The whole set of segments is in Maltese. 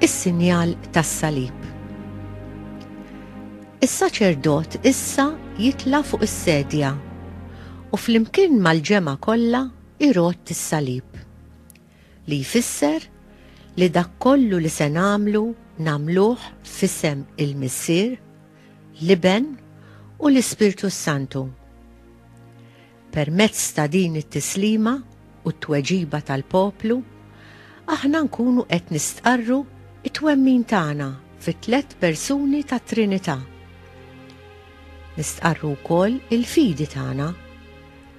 is-sinjal tas-salib. Is-saċerdot issa jitla' fuq is-sedja u flimkien mal-ġemgħa kollha irott is-salib li jfisser li dak kollu li se nagħmlu nagħmluh f'isem il-Missier l-Iben u l-Ispirtu s-Santu. Permezz ta' din it-tislima u t-tweġiba tal-poplu, aħna nkunu qed nistqarru t-twemmin tagħna fit-tliet persuni tat-Trinità. Nistqarru wkoll il-fidi tagħna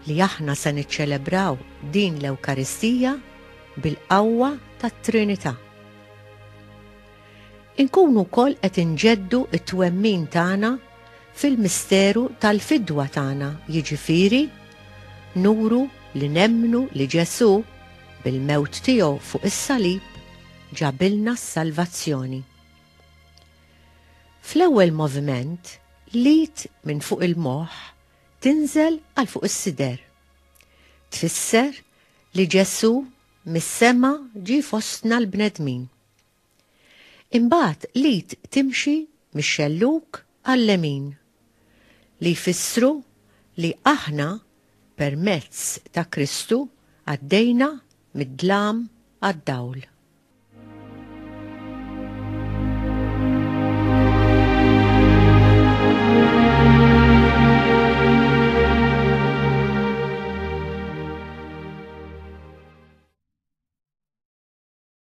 li aħna se niċċelebraw din l-Ewkaristija bil-qawwa tat-Trinità. Inkunu wkoll qed inġeddu t-twemmin tagħna fil-misteru tal-fidwa tagħna, jiġifieri, nuru li nemmnu li Ġesù, bil-mewt tiegħu fuq is-salib, ġabilna s-salvazzjoni. Fl-ewwel moviment, l-id minn fuq il-moħħ tinżel għal fuq is-sider. Tfisser li Ġesù mis-sema ġie fostna l-bnedmin. Imbagħad l-id timxi mix-xellug għal-lemin, li jfissru li aħna permezz ta' Kristu għaddejna mid-dlam għad-dawl.